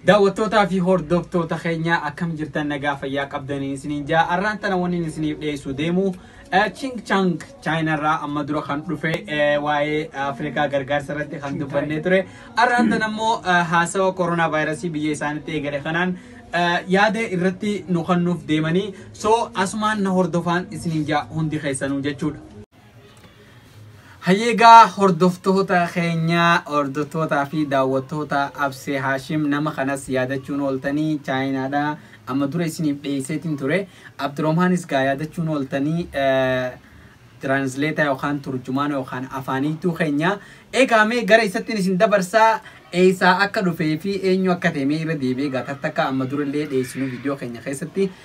Daawwattootaa fi hordoftoota keenyaa akkam jirtan nagaa fayyaa qabdanii isiniin jaa arraan tana waniin isiniif dhiyeessuu deemu Ching Chang chaayinarraa amma dura kan dhufe waa'ee Afrikaa gargaarsa irratti kan dubbannee ture arraan tana immoo haasawa koronaa vaayirasii biyya isaanitti eegale kanaan yaada irratti nu kennuuf deemanii soo asumaan na hordofaan isiniin jaa hundi keessanuu jechuudha. Hayyeegaa hordoftoota keenyaa hordoftootaa fi daawwattoota Absee Haashim nama kanas yaadachuun ooltanii chaayinaadha. Amma dura isiniif dhiyeesseetiin ture. Abdiroohmaanis gaa yaadachuun ooltanii tiraansileetaa yookaan turjumaana yookaan afaaniituu keenya. Egaa mee gara isattiin isin dabarsaa eessaa akka dhufee fi eenyu akka ta'e mee irra deebi'ee gaa takka amma durallee dhiyeessinu viidiyoo keenya keessatti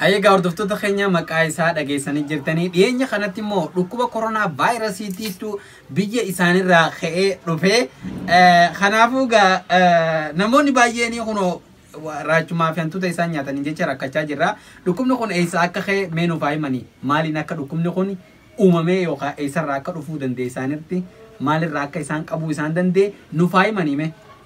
Hayyee egaa hordoftoota keenya maqaa isaa dhageessanii jirtanii dhiyeenya kanatti immoo dhukkuba koronaa vaayirasiitiitu biyya isaanirraa ka'ee dhufe Eh, kanaafuu egaa eh, namoonni baay'een kunoo wa- raachumaa fi hantuuta isaan nyaatanii jecha rakkachaa jirra dhukkubni kun eessa akka ka'e mee nuuf haa himanii maaliin akka dhukkubni kun uumamee yookaan eessarraa akka dhufuu danda'e isaanitti maalirraa akka isaan qabuu isaan danda'e nuuf haa himanii mee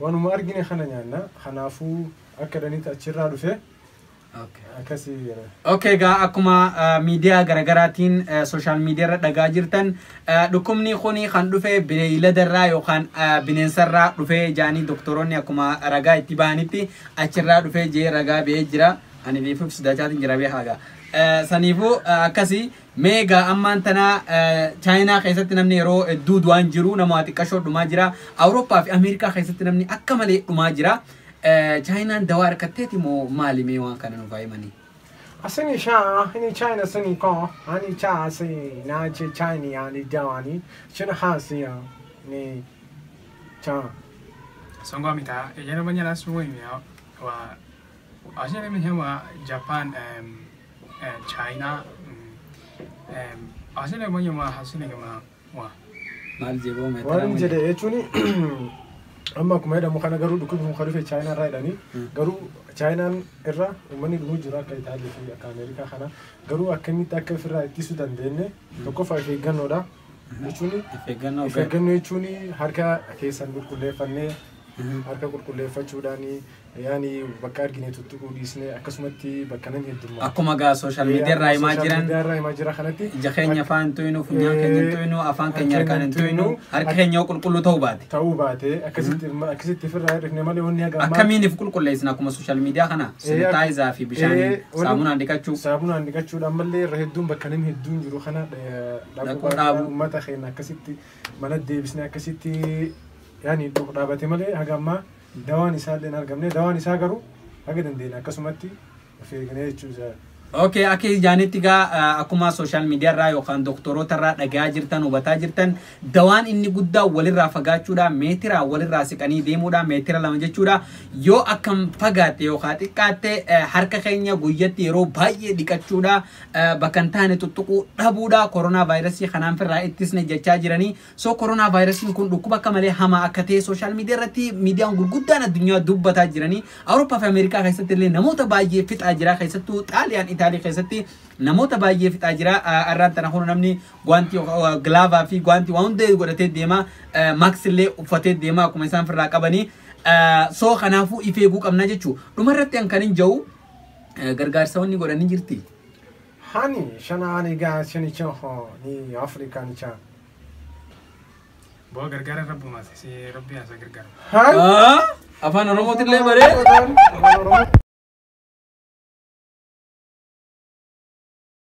Wanuma argine kana nyaanna. Kanaafuu akka danitti achirraa dhufe akkasii jedha. Okay egaa akkuma miidiyaa garagaraatiin sooshaal miidiyaarra dhagaa jirtan dhukkubni kuni kan dhufe bineeyladarraa yookaan bineensarraa dhufee jaanii doktoroonni akkuma ragaa itti bahanitti achirraa dhufee jee ragaa ba'ee jira. Ani beefuuf sidachaatiin jira beekaa egaa. Saniifuu akkasii Mee egaa ammaan tana Chaayinaa keessatti namni yeroo hedduu du'aan jiru nama xiqqashoo dhumaa jira. Awurooppaa fi Ameerikaa keessatti namni akka malee dhumaa jira. Chaayinaan dawaa harkatteeti moo maali mee waan kana nuuf himanii? Asini sha ini China sini ko ani cha asi na che China ya ni dawani china hasi ya ni cha. Songo mita yana manya la suwe mi wa. Asini mi hema Japan em China asile moyo ma hasile ma wa mal jebo me Waan inni jedhe jechuun amma akkuma jedhamu kana garuu dhukkubni kun kan dhufe Chaayinaa irraa jedhanii garuu Chaayinaan irra uummanni dhumuu jiru akka Itaalii fi akka Ameerikaa kana garuu akkamitti akka ofirraa ittisuu dandeenye tokkoffaa of eeggannoodha. jechuun ifeeggannoo of eeggannoo jechuun harka keessan qulqulleeffannee harka qulqulleeffachuudhaan yaani bakka argine tuttuquu dhiisnee akkasumatti bakka namni heddummaa akkuma gaa sooshaal miidiyaa irraa himaa jiran irraa himaa jira kanatti ija keenya afaan hin tuynu funyaan keenya hin tuynu afaan keenya harkaan hin tuynu harki keenya yoo qulqulluu ta'uu baate ta'uu baate akkasitti akkasitti ofirraa hir'ifne malee wanni haga ammaa akkamiin if qulqulleessina akkuma sooshaal miidiyaa kana Eh, sanitaayizer fi bishaaniin eh, wanni- saamunaan dhiqachuu saamunaan dhiqachuudhaan malee irra hedduun bakka namni hedduun jiru kana eh, Rakkoo dhaabu. Uummata keenya akkasitti mana deebisnee akkasitti yaani dhufu dhaabate malee haga ammaa dawaan isaa illee hin argamne. Dawaan isaa garuu haga dandeenye akkasumatti of eegnee jechuu isaa. Okay, akka jaanitti gaa eh, akkuma sooshaal miidiyaa irraa yookaan doktoroota irraa dhagayaa jirtan hubataa jirtan dawaan inni guddaa walirraa fagaachuudha meetira walirraa siqanii deemuudha meetira lama jechuudha yoo akkam fagaatte yookaan xiqqaatte eh, harka keenya guyyatti yeroo baay'ee dhiqachuudha bakka hin taane tuttuquu dhabuudha koronaa vaayirasii kanaan firraa ittisne jechaa jiranii soo koronaa vaayirasiin kun dhukkuba akka malee hamaa akka ta'e sooshaal miidiyaa irratti miidiyaan gurguddaan addunyaa dubbataa jiranii awurooppaa fi ameerikaa keessatti illee namoota baay'ee fixaa jira keessattuu xaaliyaan itaalii keessatti namoota baay'ee fixaa jira arraan tana kun namni gwaantii gilaavaa fi gwaantii waan hundee godhatee deema maaksi illee uffatee deema akkuma isaan firraa qabanii soo kanaafuu ifeeguu qabna jechuu dhumarratti an kan hin ja'u Eh, Gargaarsa wanni godhan ni jirti. Hani shana ani ga shani chan ho ni Afrika ni chan. Boo gargaara rabbumaas si rabbi haasa gargaara. Han. Ah, Afaan Oromootillee baree.